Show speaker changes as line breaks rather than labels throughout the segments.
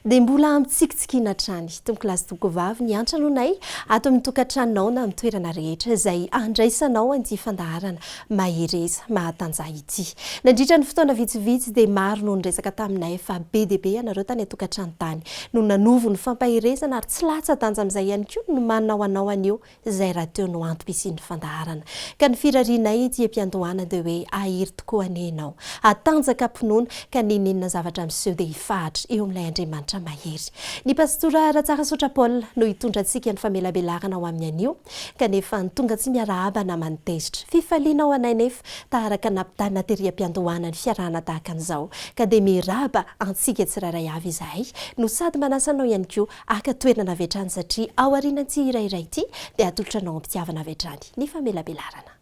dia mbola mitsikitsikiana hatrany tombokilasy tombokovavy ny antranonay ato amin'ny tokantranonao na amin'ny toerana rehetra izay andraisanao an'ity fandaharana mahereza mahatanjaha ity. Nandritra ny fotoana vitsivitsy dia maro no niresaka taminay fa be dia be ianareo tany an-tokantrano tany no nanovo ny fampaherezana ary tsy latsa-danja amin'izay ihany koa ny nomaninao anao anio izay rahateo no antoko hisian'ny fandaharana. Ka ny firarianay ety am-piandohana dia hoe ahiry tokoa anie ianao, hatanjaka am-pinoana ka n'inon'inona zavatra miseho dia hifahatra eo amin'ilay Andriamanitra mahery. Ny Pastora Ratsarasotra Paul no hitondra antsika ny famelabelarana ho amin'ny anio, kanefa ny tonga tsy miarahaba namany tezitra. Fifaliana ho anay nefa taharaka nampitana tery am-piandohana ny fiarahana tahaka an'izao, ka dia miraba antsika tsirairay avy izahay no sady manasa anao ihany koa Haka toerana avy hatrany satria aorianan'ity hira iray ity dia hatolotra anao am-pitiavana avy hatrany ny famelabelarana.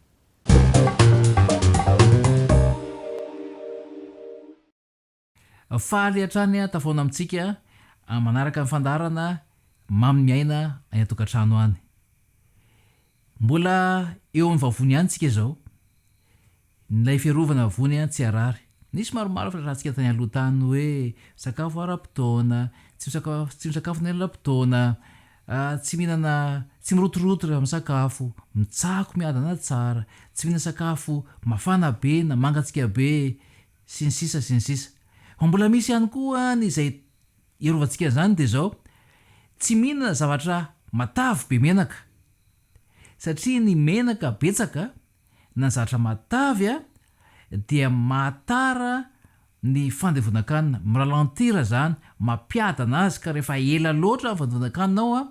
Faly hatrany aho tafaona amintsika manaraka ny fandaharana Mamy ny aina any an-tokantrano any. Mbola eo amin'ny vavony ihany tsika izao. N'ilay fiarovana vony an tsy harary. Nisy maromaro filaharantsika tany aloha tany hoe sakafo ara-potoana, tsy tsy misakafo nelapotoana, tsy mihinana tsy mirotoroto rehefa misakafo, mitsako miadana tsara, tsy mihinana sakafo mafana be na mangatsiaka be sy ny sisa sy ny sisa. Fa mbola misy ihany koa an izay hiarovantsika an'izany dia izao, tsy mihinana zavatra matavy be menaka satria ny menaka betsaka Nanjatra matavy a! dia mahatara ny fandevonan-kanina, mi-ralentir izany, mampiadana azy ka rehefa ela loatra ny fandevonan-kanina ao a!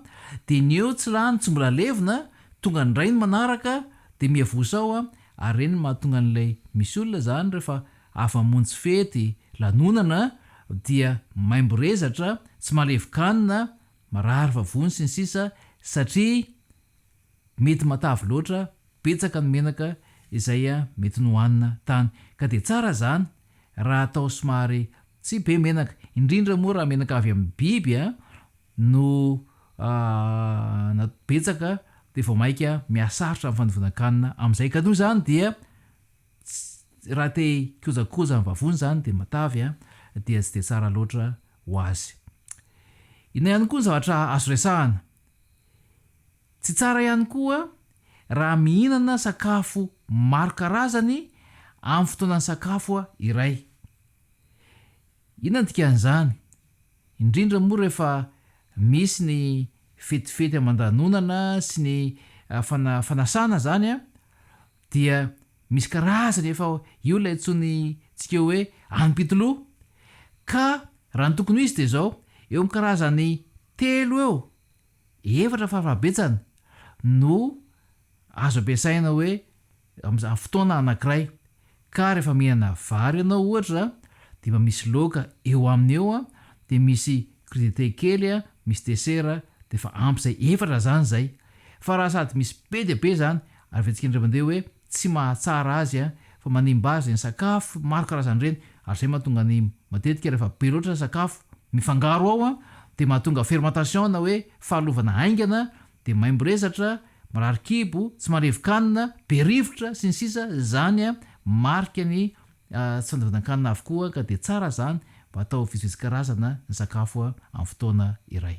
dia ny eo tsy lany, tsy mbola levona, tonga indray ny manaraka dia miavosa ao a! ary ireny no mahatonga an'ilay, misy olona izany rehefa avy mamonjy fety, lanonana, dia maimbo rezatra, tsy mahalevoka hanina, marary vavony sy ny sisa satria, Mety matavy loatra, betsaka ny menaka izay mety nohanina tany ka dia tsara izany raha atao somary tsy be menaka, indrindra moa raha menaka avy amin'ny biby no betsaka dia vao maika mihasarotra ny fandovinan-kanina amin'izay ka noho izany dia raha te hikojakoja ny vavony izany dia matavy dia tsy dia tsara loatra ho azy. Inona ihany koa ny zavatra azo resahana, Tsy tsara ihany koa raha mihinana sakafo maro karazany amin'ny fotoanan'ny sakafo iray. Inona ny dikan'izany? Indrindra moa rehefa misy ny fetifety aman-danonana sy ny fana fanasana izany dia misy karazany efa io ilay antsointsika hoe alim-pitoloha ka raha ny tokony ho izy dia izao, eo amin'ny karazany Telo eo, efatra fara-fahabetsany no azo ampiasaina hoe amin'izany fotoana anankiray. Ka rehefa mihinana vary ianao ohatra dia mba misy laoka eo aminy eo dia misy crudité kely misy desera dia efa ampy izay, efatra izany izay. Fa raha sady misy be dia be izany ary vetsik'indray mandeha hoe tsy mahatsara azy fa manimba azy ny sakafo maro karazana ireny ary izay mahatonga ny matetika rehefa be loatra sakafo mifangaro ao dia mahatonga fermentation na hoe fahalovana haingana dia maimbo resatra, marary kibo, tsy marevy kanina, be rivotra, sy ny sisa Izany marika ny tsy fandevonan-kanina avokoa ka dia tsara izany mba atao vitsivitsy karazana ny sakafo amin'ny fotoana iray.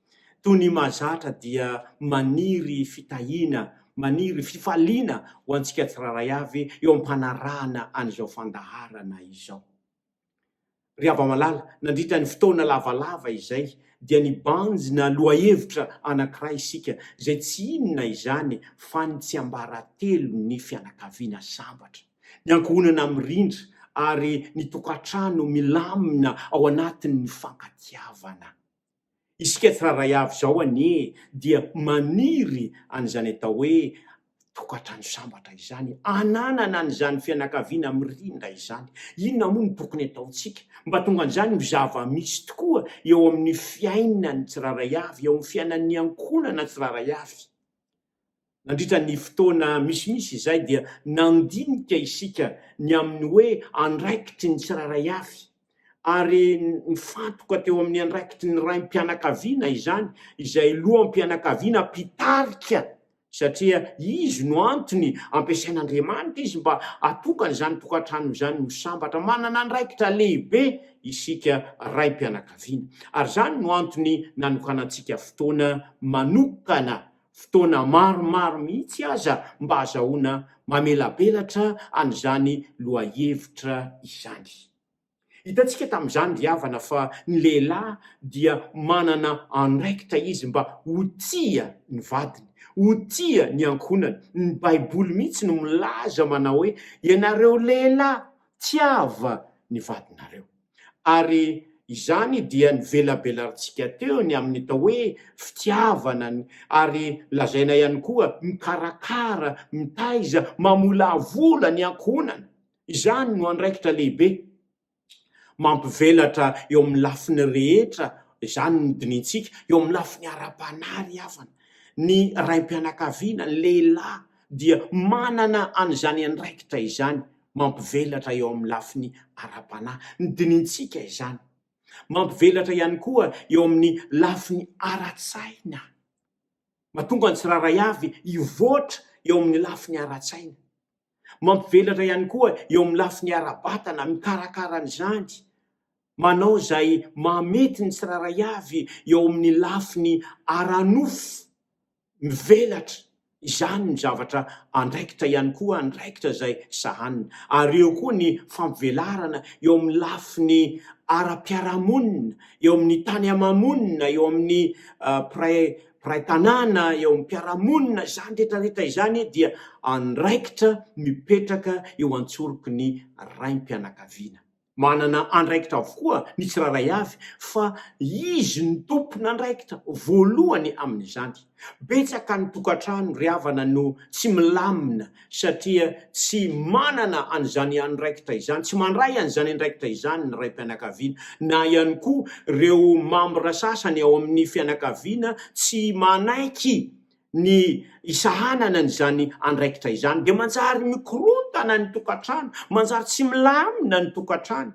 Toy ny mahazatra dia maniry fitahiana, maniry fifaliana ho antsika tsirairay avy eo am-panarahana an'izao fandaharana izao. Ry hava-malala, nandritra ny fotoana lavalava izay dia nibanjina lohahevitra anankiray isika, izay tsy inona izany fa ny tsiambaratelon'ny fianakaviana sambatra, ny ankohonana mirindra ary ny tokantrano milamina ao anatin'ny fifankatiavana. Isika tsirairay avy izao anie dia maniry an'izany atao hoe tokantrano sambatra izany, hananana an'izany fianakaviana mirindra izany. Inona moa no tokony hataontsika mba tonga an'izany ho zava-misy tokoa eo amin'ny fiainan'ny tsirairay avy, eo amin'ny fiainan'ny ankohonana tsirairay avy? Nandritra ny fotoana misimisy izay dia nandinika isika ny amin'ny hoe andraikitry ny tsirairay avy, ary nifantoka teo amin'ny andraikitry ny raim-pianakaviana izany, izay loham-pianakaviana mpitarika, satria izy no antony ampiasain'Andriamanitra izy mba hahatonga an'izany tokantrano izany ho sambatra. Manana andraikitra lehibe isika raim-pianakaviana, ary izany no antony nanokanantsika fotoana manokana fotoana maromaro mihitsy aza mba hazahoana mamelabelatra an'izany lohahevitra izany. Hitantsika tamin'izany ry havana fa ny lehilahy dia manana andraikitra izy mba ho tia ny vadiny, ho tia ny ankohonany. Ny Baiboly mihitsy no milaza manao hoe, Ianareo lehilahy, tiava ny vadinareo. ary izany dia nivelabelarintsika teo ny amin'ny atao hoe fitiavana ary lazaina ihany koa mikarakara, mitaiza, mamolavola ny ankohonana. Izany no andraikitra lehibe mampivelatra eo amin'ny lafiny rehetra, izany no dinintsika, eo amin'ny lafiny ara-panahy ry havana, ny raim-pianakaviana, ny lehilahy dia manana an'izany andraikitra izany mampivelatra eo amin'ny lafiny ara-panahy. Nodinihintsika izany. Mampivelatra ihany koa eo amin'ny lafiny ara-tsaina. Mahatonga ny tsirairay avy hivoatra eo amin'ny lafiny ara-tsaina. Mampivelatra ihany koa eo amin'ny lafiny ara-batana, mikarakara an'izany, manao izay mahamety ny tsirairay avy eo amin'ny lafiny ara-nofo, mivelatra, izany no zavatra andraikitra ihany koa, andraikitra izay sahanina. Ary eo koa ny fampivelarana eo amin'ny lafiny ara-piarahamonina, eo amin'ny tany ama-monina, eo amin'ny mpiray mpiray tanàna, eo amin'ny mpiara-monina, izany rehetra rehetra izany dia andraikitra mipetraka eo an-tsoroky ny raim-pianakaviana. Manana andraikitra avokoa ny tsirairay avy fa izy no tompon'andraikitra voalohany amin'izany. Betsaka ny tokantrano ry havana no tsy milamina satria tsy manana an'izany andraikitra izany, tsy mandray an'izany andraikitra izany ny raim-pianakaviana. Na ihany koa ireo mambra sasany ao amin'ny fianakaviana tsy manaiky ny isahanana an'izany andraikitra izany dia manjary mikorontana ny tokantrano, manjary tsy milamina ny tokantrano,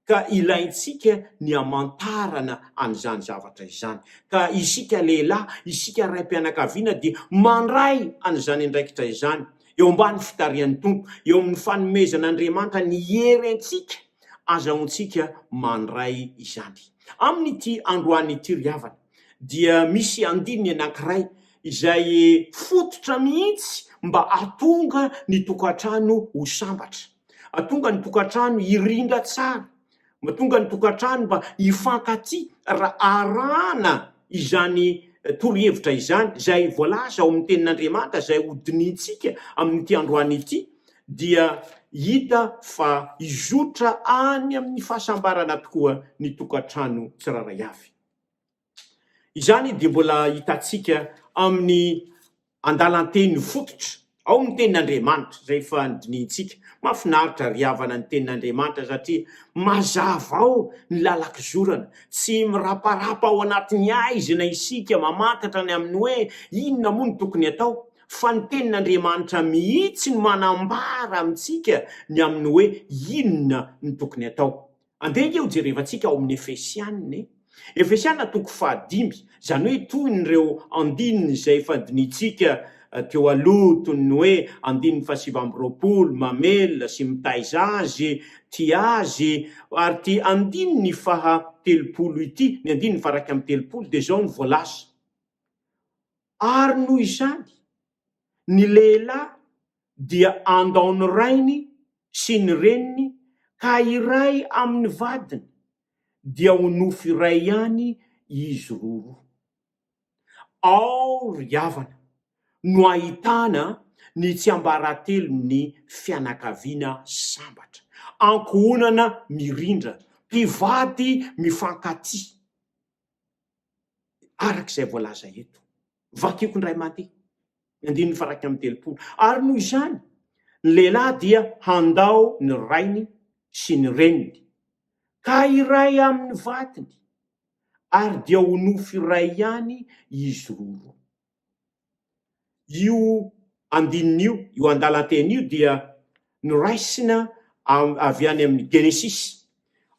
ka ilaintsika ny hamantarana an'izany zavatra izany, ka isika lehilahy, isika raim-pianakaviana dia mandray an'izany andraikitra izany eo ambany fitarihan'ny Tompo, eo amin'ny fanomezan'Andriamanitra ny hery antsika, azahoantsika mandray izany. Amin'ity androany ity ry havana, dia misy andininy anankiray izay fototra mihitsy mba hahatonga ny tokantrano ho sambatra, hahatonga ny tokantrano hirindra tsara, mahatonga ny tokantrano mba hifankatia raha arahana izany torohevitra izany izay voalaza ao amin'ny tenin'Andriamanitra izay hodinihintsika amin'ity androany ity dia hita fa hizotra any amin'ny fahasambarana tokoa ny tokantrano tsirairay avy. Izany dia mbola hitantsika amin'ny andalan-teny fototra ao amin'ny tenin'Andriamanitra izay efa nodinihintsika. Mahafinaritra ry havana ny tenin'Andriamanitra satria mazava ao ny lalan-kizorana. Tsy miraparapa ao anatin'ny haizina isika mamantatra ny amin'ny hoe inona moa no tokony atao fa ny tenin'Andriamanitra mihitsy no manambara amintsika ny amin'ny hoe inona no tokony atao. Andeha ange hojerevantsika ao amin'ny Efesiana e! Efesiana toko fahadimy, izany hoe toy ny ireo andininy izay efa dinintsika teo aloha toy ny hoe andininy fahasivy amby roapolo, mamelona sy mitaiza azy, tia azy, ary ity andininy faha telopolo ity, ny andininy faha iraika amby telopolo dia izao no voalaza, Ary noho izany, ny lehilahy dia andao ny rainy sy ny reniny ka hiray amin' ny vadiny, dia ho nofo iray ihany izy roro. Ao ry havana no ahitana ny tsiambaratelon' ny fianakaviana sambatra, ankohonana mirindra, mpivady mifankatia. araka izay voalaza eto. Vakiko indray mandeha ny andininy faha iraika amby telopolo. Ary noho izany, ny lehilahy dia handao ny rainy sy ny reniny, ka hiray amin'ny vatony, ary dia ho nofo iray ihany izy roa roa. Io andininy io, io andalan-teny io dia noraisina avy any amin'ny Genesisy.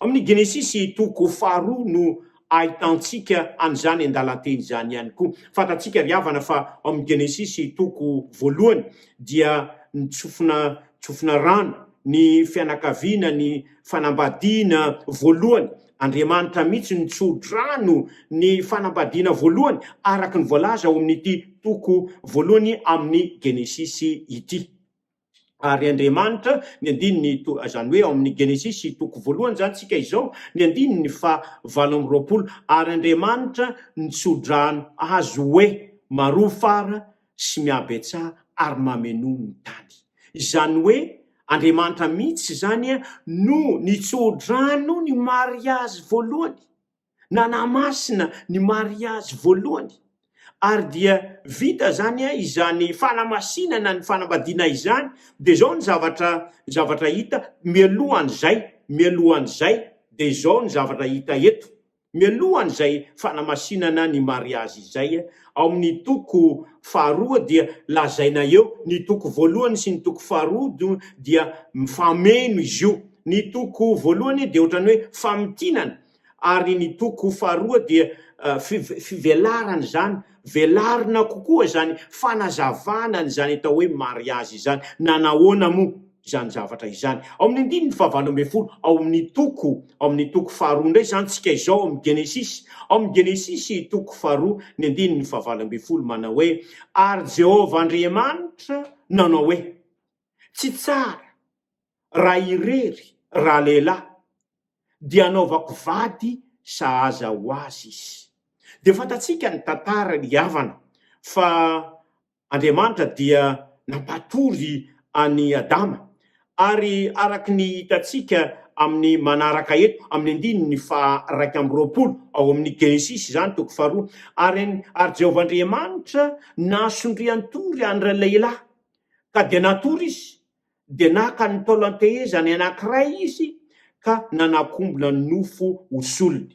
Amin'ny Genesisy toko faharoa no ahitantsika an'izany andalan-teny izany ihany koa. Fantatsika ry havana fa ao amin'ny Genesisy toko voalohany dia nitsofina tsofina rano ny fianakaviana ny fanambadiana voalohany Andriamanitra mihitsy no tsodrano ny fanambadiana voalohany, araka ny voalaza ao amin'ity toko voalohany amin'ny Genesisy ity. Ary Andriamanitra, ny andininy, izany hoe ao amin'ny Genesisy toko voalohany izany tsika izao, ny andininy fa valo amby roapolo, ary Andriamanitra nitsodrano azy hoe, Maroa fara sy mihabetsaha ary mamenoa ny tany. Izany hoe Andriamanitra mihitsy izany no nitso-drano ny mariazy voalohany, nanamasina ny mariazy voalohany. Ary dia vita izany, izany fanamasinana ny fanambadiana izany. Dia izao ny zavatra, ny zavatra hita mialohan'izay, mialohan'izay, dia izao ny zavatra hita eto. mialohan'izay fanamasinana ny mariazy izay, ao amin'ny toko faharoa dia lazaina eo, ny toko voalohany sy ny toko faharoa do dia mifameno izy io, ny toko voalohany dia ohatran'ny hoe famintinana ary ny toko faharoa dia fivelarana izany, velarina kokoa izany fanazavana an'izany atao hoe mariazy izany, na nahoana moa? izany zavatra izany. Ao amin'ny andininy fahavalo ambin'ny folo ao amin'ny toko ao amin'ny toko faharoa indray izany tsika izao ao amin'ny Genesisy. Ao amin'ny Genesisy toko faharoa ny andininy fahavalo ambin'ny folo manao hoe, Ary Jehovah Andriamanitra nanao hoe, Tsy tsara raha irery ralehilahy, dia hanaovako vady sahaza ho azy izy. Dia fantatsika ny tantara, ny havana, fa Andriamanitra dia nampatory an'i Adama, ary araka ny hitantsika amin'ny manaraka eto, amin'ny andininy faha iraika amby roapolo ao amin'ny Genesisy izany, toko faharoa, ary ary Jehovah Andriamanitra nasondrian-tory an'ilay lehilahy, ka dia natory izy, dia naka ny taolan-tehezany anankiray izy ka nanakombona nofo ho solony.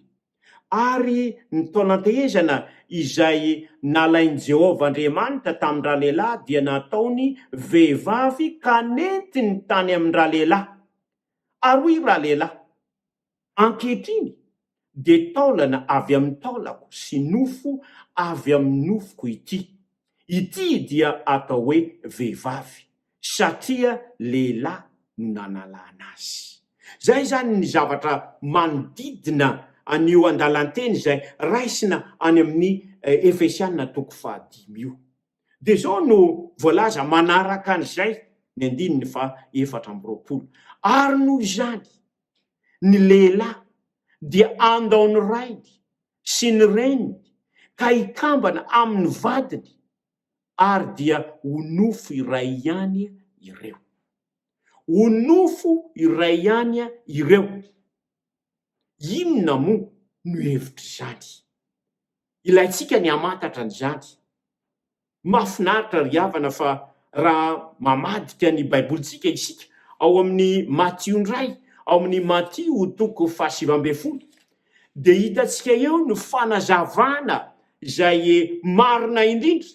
ary ny taonan-tehezana izay nalain'i Jehovah Andriamanitra tamin-dralehilahy dia nataony vehivavy ka nentiny tany amin-dralehilahy. Ary hoy ralehilahy, Ankehitriny dia taolana avy amin'ny taolako sy nofo avy amin'ny nofoko ity. Ity dia atao hoe vehivavy. satria lehilahy no nanalana azy. Izay izany ny zavatra manodidina an'io andalan-teny izay raisina any amin'ny Efesiana toko fahadimy io. Dia izao no voalaza manaraka an'izay ny andininy fahaefatra amby roapolo, Ary noho izany, ny lehilahy dia handao ny rainy sy ny reniny, ka hikambana amin'ny vadiny, ary dia ho nofo iray ihany ireo. Ho nofo iray ihany ireo. Inona moa no hevitr'izany? Ilaintsika ny hamantatra an'izany. Mahafinaritra ry havana fa raha mamadika ny Baibolintsika isika ao amin'ny Matio indray, ao amin'ny Matio toko fahasivy ambin'ny folo, Dia hitantsika eo ny fanazavana izay marina indrindra,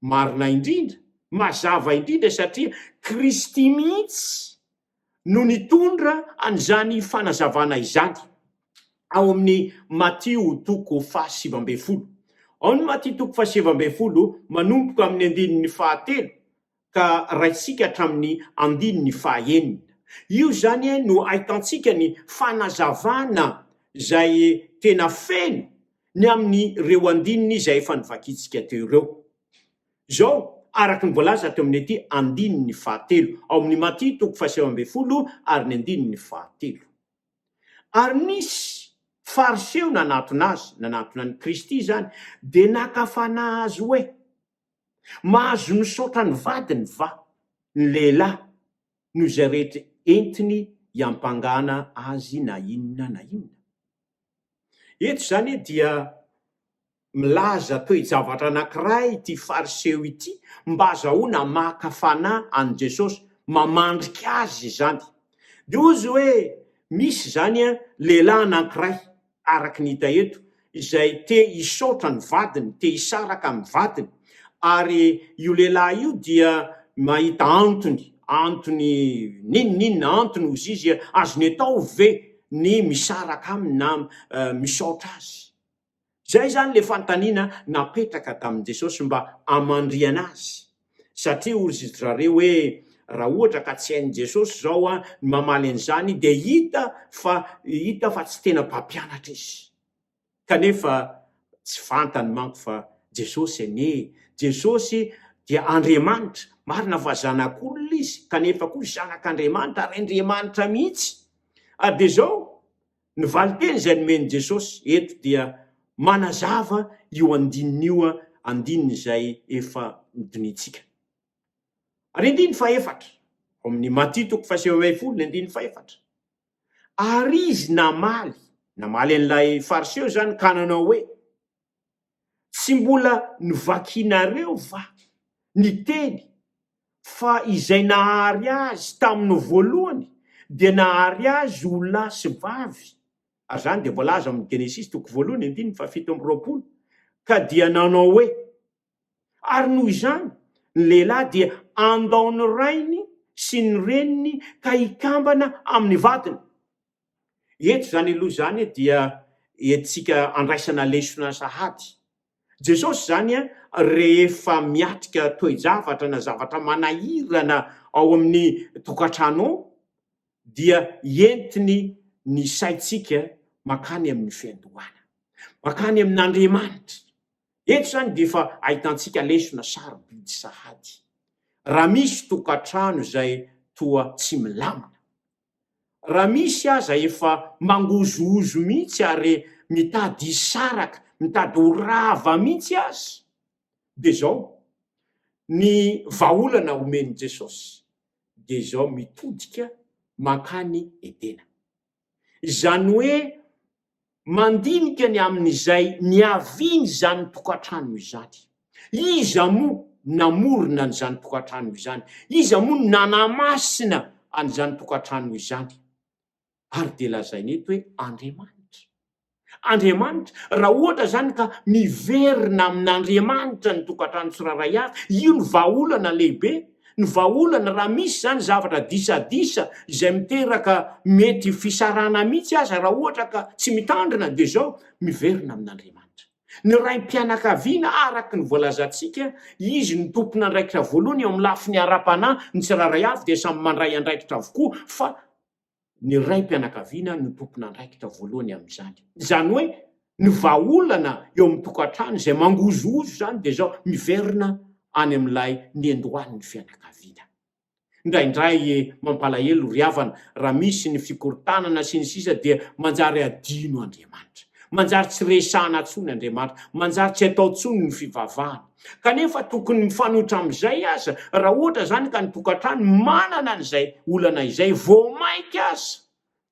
marina indrindra, mazava indrindra satria Kristy mihitsy no nitondra an'izany fanazavana izany ao amin'ny Matio toko fahasivy ambin'ny folo. Ao ny Matio toko fahasivy ambin'ny folo manomboka amin'ny andininy fahatelo ka raisika hatramin'ny andininy fahaenina. Io izany no ahitantsika ny fanazavana izay tena feno ny amin'ireo andininy izay efa novakintsika teo ireo. Izao araka ny voalaza teo amin'ity andininy fahatelo ao amin'ny Maty toko fahasivy ambin'ny folo ary ny andininy fahatelo. Ary nisy Fariseo nanatona azy, nanatona an'i Kristy izany, dia naka fanahy azy hoe. Mahazo misaotra ny vadiny va ny lehilahy noho izay rehetra entiny iampangana azy na inona na inona? Eto izany dia milaza toe-javatra anankiray ity Fariseo ity mba hazahoana maka fanahy an'i Jesosy, mamandrika azy izany. Dia hoy izy hoe, Misy izany lehilahy anankiray, araka ny hita eto, izay te hisaotra ny vadiny, te hisaraka amin'ny vadiny, ary io lehilahy io dia mahita antony, antony n'inon'inona, antony hozy izy, azony atao ve ny misaraka aminy na misaotra azy? Izay izany ilay fanontaniana napetraka tamin'i Jesosy mba hamandrihana azy. satria orizidrareo hoe raha ohatra ka tsy hain'i Jesosy izao a, ny mamaly an'izany dia hita fa hita fa tsy tena mpampianatra izy. Kanefa tsy fantany manko fa Jesosy anie, Jesosy dia Andriamanitra, marina fa zanak'olona izy kanefa koa zanak'Andriamanitra ary Andriamanitra mihitsy. Ary dia izao, Ny valin-teny izay nomen'i Jesosy eto dia manazava io andininy io, andininy izay efa nodinihintsika. Ary andininy fahefatra, ao amin'ny Maty toko faha sivy ambin'ny folo ny andininy fahefatra, Ary izy namaly, namaly an'ilay Fariseo izany, ka nanao hoe, Tsy mbola novakianareo va ny teny fa izay nahary azy tamin'ny voalohany dia nahary azy ho lahy sy vavy, ary izany dia voalaza amin'ny Genesisy toko voalohany andininy fahafito amby roapolo, ka dia nanao hoe, Ary noho izany, ny lehilahy dia andao ny rainy sy ny reniny ka hikambana amin'ny vadiny. Eto izany aloha izany dia entintsika andraisana lesona sahady. Jesosy izany rehefa miatrika toe-javatra na zavatra manahirana ao amin'ny tokantrano ao dia entiny ny saintsika mankany amin'ny fiandohana, mankany amin'Andriamanitra. Eto izany dia efa ahitantsika lesona sarobidy sahady. Raha misy tokantrano izay toa tsy milamina, raha misy aza efa mangozohozo mihitsy ary mitady hisaraka, mitady ho rava mihitsy aza, dia izao ny vahaolana omen'i Jesosy, dia izao mitodika mankany Edena. izany hoe mandinika ny amin'izay niavian'izany tokantrano izany. Iza moa namorona an'izany tokantrano izany? Iza moa nanamasina an'izany tokantrano izany? Ary dia lazaina eto hoe Andriamanitra. Andriamanitra, raha ohatra izany ka miverina amin'Andriamanitra ny tokantrano tsirairay avy, io no vahaolana lehibe, ny vahaolana raha misy izany zavatra disadisa izay miteraka mety fisarahana mihitsy aza raha ohatra ka tsy mitandrina dia izao, miverina amin'Andriamanitra. Ny raim-pianakaviana araka ny voalazantsika, izy no tompon'andraikitra voalohany eo amin'ny lafiny ara-panahy, ny tsirairay avy dia samy mandray andraikitra avokoa fa ny raim-pianakaviana no tompon'andraikitra voalohany amin'izany. Izany hoe ny vahaolana eo amin'ny tokantrano izay mangozohozo izany dia izao miverina any amin'ilay niandohan'ny fianakaviana. Indraindray mampalahelo ry havana raha misy ny fikorontanana sy ny sisa dia manjary adino Andriamanitra. Manjary tsy resahana intsony Andriamanitra, manjary tsy atao intsony ny fivavahana. Kanefa tokony mifanohitra amin'izay aza, raha ohatra izany ka ny tokantrano manana an'izay olana izay, vao mainka aza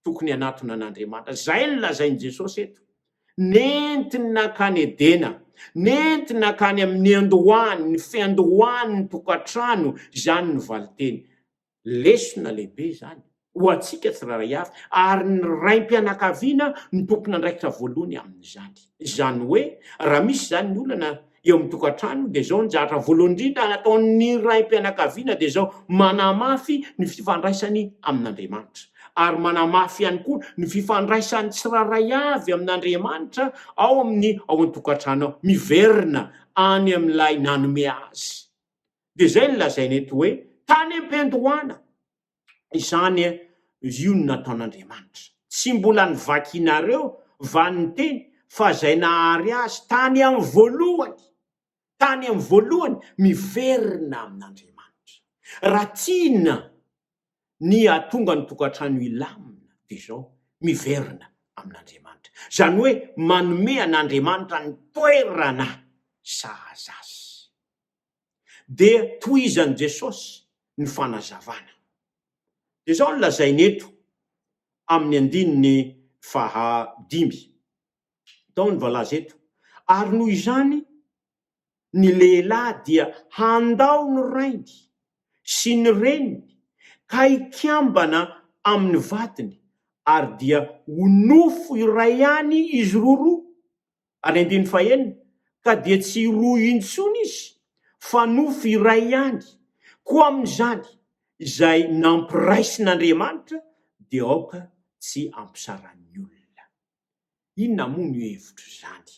tokony hanatona an'Andriamanitra. Izay no lazain'i Jesosy eto. Nentiny nankany Edena, nentiny nankany amin'ny andohany, ny fiandohan'ny tokantrano, izany ny valinteny. Lesona lehibe izany ho antsika tsirairay avy, ary ny raim-pianakaviana no tompon'andraikitra voalohany amin'izany. Izany hoe, raha misy izany ny olana eo amin'ny tokantrano, dia izao ny zavatra voalohany indrindra nataon'ny raim-pianakaviana, dia izao, manahy mafy ny fifandraisany amin'Andriamanitra, ary manahy mafy ihany koa ny fifandraisan'ny tsirairay avy amin'Andriamanitra ao amin'ny ao an-tokantrano ao, miverina any amin'ilay nanome azy. Dia izay no lazaina eto hoe tany am-piandohana izany io no nataon'Andriamanitra. Tsy mbola novakinareo va ny teny fa izay nahary azy tany amin'ny voalohany, tany amin'ny voalohany, miverina amin'Andriamanitra. Raha tiana ny hahatonga ny tokantrano hilamina dia izao, miverina amin'Andriamanitra. Izany hoe manome an'Andriamanitra ny toerana sahaza azy. dia tohizan'i Jesosy ny fanazavana. Dia izao no lazainy eto amin'ny andininy faha dimy. Tao ny voalaza eto, ary noho izany ny lehilahy dia handao ny rainy sy ny reniny ka hikambana amin'ny vadiny ary dia ho nofo iray ihany izy roroa, Ary andininy fahenina, Ka dia tsy roa intsony izy, fa nofo iray ihany, koa amin'izany, izay nampiraisin'Andriamanitra dia aoka tsy ampisaran'ny olona. Inona moa no hevitr'izany?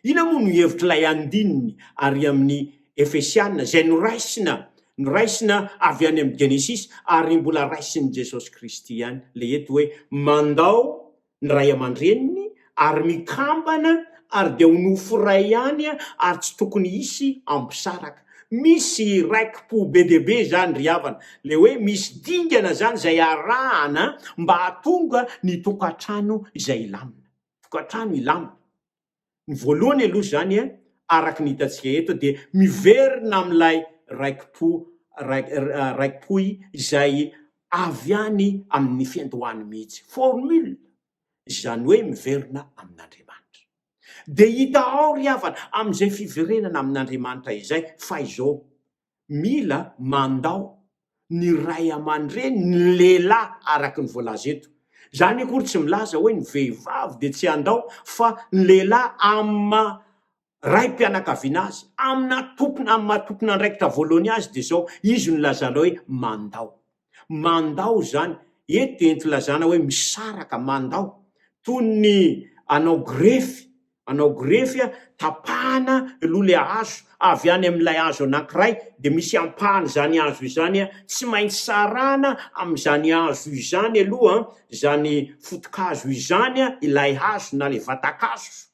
Inona moa no hevitr'ilay andininy ary amin'ny Efesiana izay noraisina, noraisina avy any amin'ny Genesisy ary mbola raisin'i Jesosy Kristy ihany, ilay eto hoe mandao ny ray aman-dreniny ary mikambana ary dia ho nofo iray ihany ary tsy tokony hisy ampisaraka. Misy raiki-po be dia be izany ry havana, ilay hoe misy dingana izany izay arahana mba hahatonga ny tokantrano izay hilamina. Tokantrano hilamina. Ny voalohany aloha izany a, araka ny hitantsika eto dia miverina amin'ilay raiki-po raiki-pohy izay avy any amin'ny fiandohany mihitsy, formule, izany hoe miverina amin'Andriamanitra. Dia hita ao ry havana amin'izay fiverenana amin'Andriamanitra izay fa izao, Mila mandao ny ray aman-dreny ny lehilahy araka ny voalaza eto. Izany akory tsy milaza hoe ny vehivavy dia tsy handao fa ny lehilahy amin'ny maha raim-pianakaviana azy, amina tompon, amin'ny maha tompon'andraikitra voalohany azy dia izao, izy no lazana hoe mandao. Mandao izany, eto dia entilazana hoe misaraka, mandao. Toy ny anao grefy, anao grefy a, tapahana aloha ilay hazo, avy any amin'ilay hazo anankiray, dia misy ampahan'izany hazo izany a, tsy maintsy sarahana amin'izany hazo izany aloha izany foto-kazo izany a, ilay hazo na ilay vatan-kazo.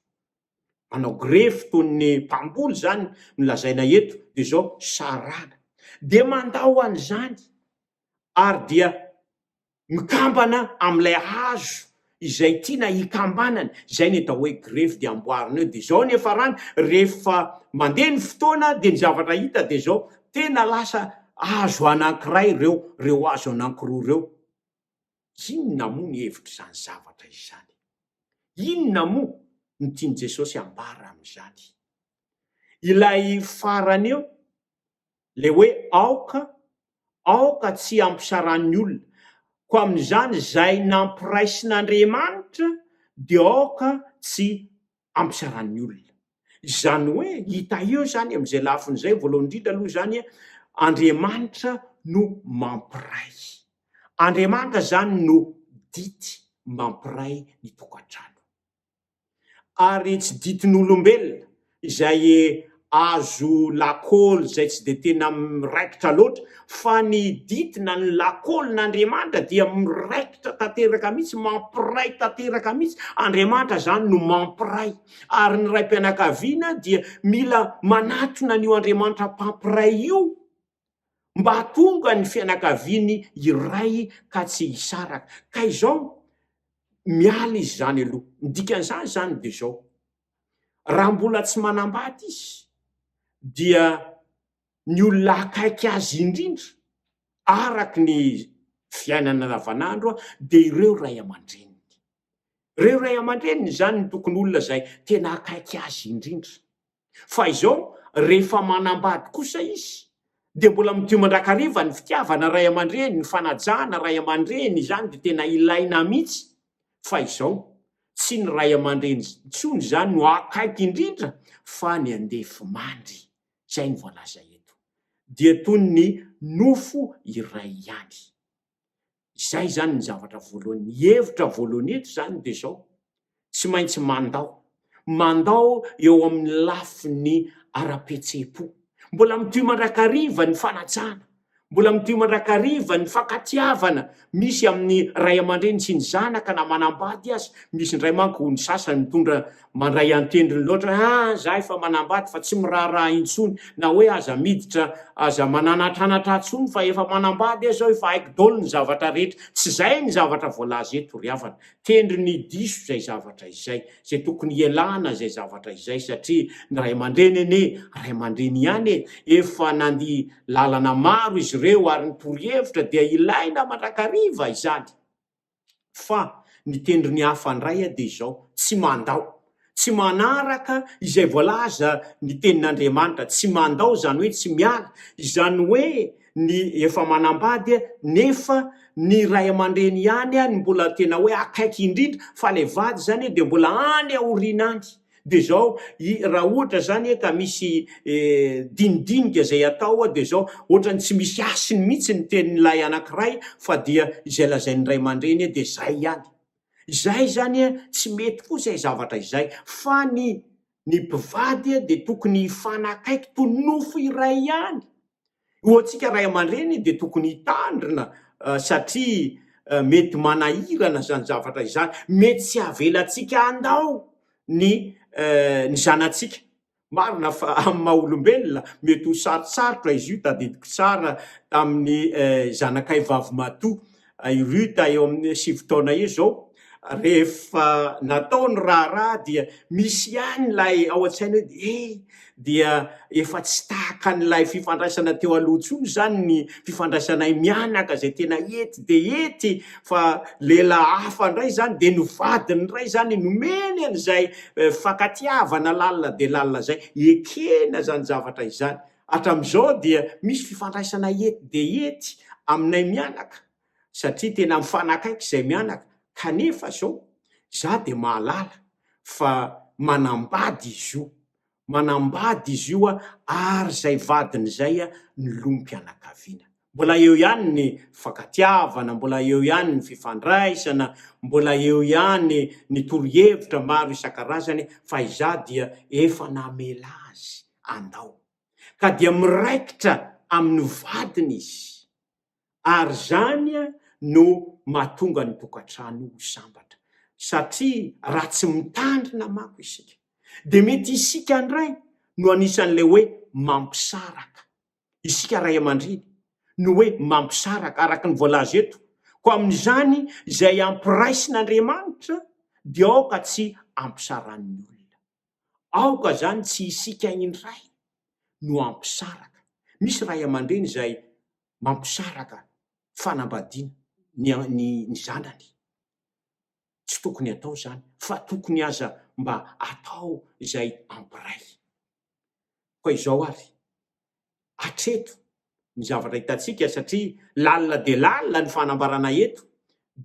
manao grefy toy ny mpamboly izany no lazaina eto, dia izao, saràna. Dia mandao an'izany ary dia mikambana amin'ilay hazo izay tiana hikambanany, izay ny atao hoe grefy, dia amboarina eo. Dia izao ny hiafarany, rehefa mandeha ny fotoana dia ny zavatra hita dia izao, tena lasa hazo anankiray ireo, ireo hazo anankiroa ireo. Inona moa ny hevitr'izany zavatra izany? Inona moa no tian'i Jesosy hambara amin'izany? Ilay farany eo, ilay hoe aoka, aoka tsy hampisaràn'ny olona. Koa amin'izany, izay nampiraisin'Andriamanitra dia aoka tsy am-pizaràn'ny olona. Izany hoe hita eo izany amin'izay lafiny izay, voalohany indrindra aloha izany, Andriamanitra no mampiray. Andriamanitra izany no dity mampiray ny tokantrano. Ary tsy ditin'olombelona izay azo lakôly izay tsy dia tena miraikitra loatra, fa ny ditina, ny lakôlin'Andriamanitra dia miraikitra tanteraka mihitsy, mampiray tanteraka mihitsy, Andriamanitra izany no mampiray, ary ny raim-pianakaviana dia mila manatona an'io Andriamanitra mpampiray io, mba hahatonga ny fianakaviany hiray ka tsy hisaraka, ka izao miala izy izany aloha, ny dikan'izany izany dia izao. Raha mbola tsy manambady izy dia ny olona akaiky azy indrindra araka ny fiainana andavanandro dia ireo ray aman-dreniny. Ireo ray aman-dreniny izany ny tokony olona izay tena akaiky azy indrindra. Fa izao rehefa manambady kosa izy dia mbola midio mandrakariva ny fitiavana ray aman-dreny, ny fanajana ray aman-dreny izany dia tena ilaina mihitsy fa izao, tsy ny ray aman-dreny intsony izany no akaiky indrindra fa ny andefimandry, izay no voalaza eto, dia toy ny nofo iray ihany. Izay izany ny zavatra voalohany. Ny hevitra voalohany eto izany dia izao, tsy maintsy mandao mandao eo amin'ny lafiny ara-pihetseham-po. Mbola mitohy mandrakariva ny fanajana, mbola mitohy mandrakariva ny fankatiavana misy amin'ny ray aman-dreny sy ny zanaka na manambady aza. Misy indray manko ny sasany mitondra mandray an-tendrony loatra hoe ah za efa manambady fa tsy miraharaha intsony na hoe aza miditra, aza mananatranatra intsony fa efa manambady aho zao, efa haiko daholo ny zavatra rehetra. Tsy izay ny zavatra voalaza eto ry havana. Kendry ny diso izay zavatra izay, izay tokony hialana izay zavatra izay satria ny ray aman-dreny anie ray aman-dreny ihany e! Efa nandia lalana maro izy ireo ary ny torohevitra dia ilaina mandrakariva izany. Fa ny kendry ny hafa indray dia izao, tsy mandao Tsy manaraka izay voalaza ny tenin'Andriamanitra, tsy mandao izany hoe tsy miala, izany hoe ny efa manambady nefa ny ray aman-dreny ihany no mbola tena hoe akaiky indrindra fa ilay vady izany dia mbola any aoriana any. Dia izao, raha ohatra izany ka misy dinidinika izay atao dia izao, ohatran'ny tsy misy hasiny mihitsy ny tenin'ilay anankiray fa dia izay lazain'ny ray aman-dreny dia izay ihany. Izay izany tsy mety koa izay zavatra izay, fa ny ny mpivady dia tokony hifanakaiky toy ny nofo iray ihany. Ho antsika ray aman-dreny dia tokony hitandrina satria mety manahirana izany zavatra izany, mety tsy havelantsika handao ny ny zanatsika Marina fa amin'ny maha olombelona, mety ho sarotsarotra izy io. Tadidiko tsara tamin'ny zanakay vavimatoa i Ruth eo amin'ny sivy taona eo izao, rehefa natao ny raharaha dia misy ihany ilay ao an-tsaina hoe dia eh, dia efa tsy tahaka an'ilay fifandraisana teo aloha intsony izany ny fifandraisanay mianaka izay tena ety dia ety Fa lehilahy hafa indray izany dia ny vadiny indray izany nomeny an'izay fankatiavana lalina dia lalina izay. Ekena izany zavatra izany. Hatramin'izao dia misy fifandraisana ety dia ety aminay mianaka satria tena mifanakaiky izay mianaka kanefa izao izaho dia mahalala fa manambady izy io. manambady izy io ary izay vadiny izay ny lom-pianakaviana. Mbola eo ihany ny fifankatiavana, mbola eo ihany ny fifandraisana, mbola eo ihany ny torohevitra maro isan-karazany fa izaho dia efa namela azy andao. Ka dia miraikitra amin'ny vadiny izy. ary izany no mahatonga ny tokantrano ho sambatra satria raha tsy mitandrina manko isika dia mety isika indray no anisan'ilay hoe mampisaraka, isika ray aman-dreny no hoe mampisaraka araka ny voalaza eto, koa amin'izany izay ampiraisin'Andriamanitra dia aoka tsy ampisaran'ny olona, aoka izany tsy isika indray no ampisaraka, misy ray aman-dreny izay mampisaraka fanambadiana ny ny zanany. Tsy tokony atao zany fa tokony aza mba atao zay ampiray. Fa izao ary, atreto ny zavatra hitantsika satria lalina dia lalina ny fanambarana eto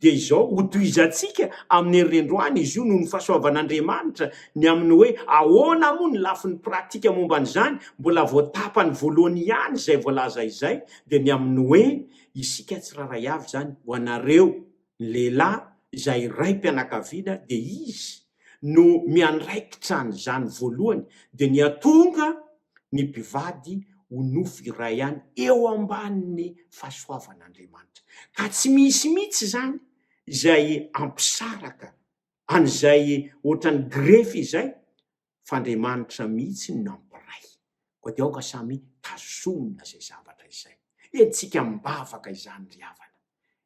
dia izao, hotohizantsika amin'ny herirendroany izy io noho ny fahasoavan'Andriamanitra, ny amin'ny hoe ahoana moa ny lafiny pratika momba an'izany, mbola vao tapany voalohany ihany izay voalaza izay, dia ny amin'ny hoe isika tsirairay avy izany, ho anareo, ny lehilahy, izay raim-pianakaviana, dia izy no miandraikitra an'izany voalohany, dia ny atonga, ny mpivady ho nofo iray ihany eo ambanin'ny fahasoavan'Andriamanitra, ka tsy misy mihitsy izany izay hampisaraka an'izay ohatran'ny grefy izay, fa Andriamanitra mihitsy no nampiray. Koa dia aoka samy tazomina izay zavatra izay. Entintsika am-bavaka izany ry havana,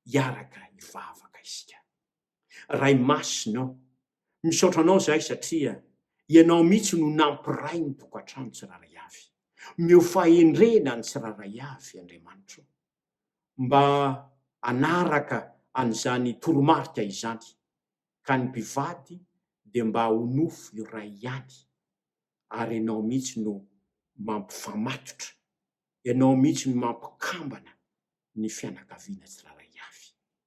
hiaraka hivavaka isika. Ray masina ô, misaotra Anao izahay satria Ianao mihitsy no nampiray ny tokantrano tsirairay avy. Omeo fahendrena ny tsirairay avy, Andriamanitro, mba hanaraka an'izany toromarika izany, ka ny mpivady dia mba ho nofo iray ihany, ary Ianao mihitsy no mampifamatotra, Ianao mihitsy no mampikambana ny fianakaviana tsirairay avy.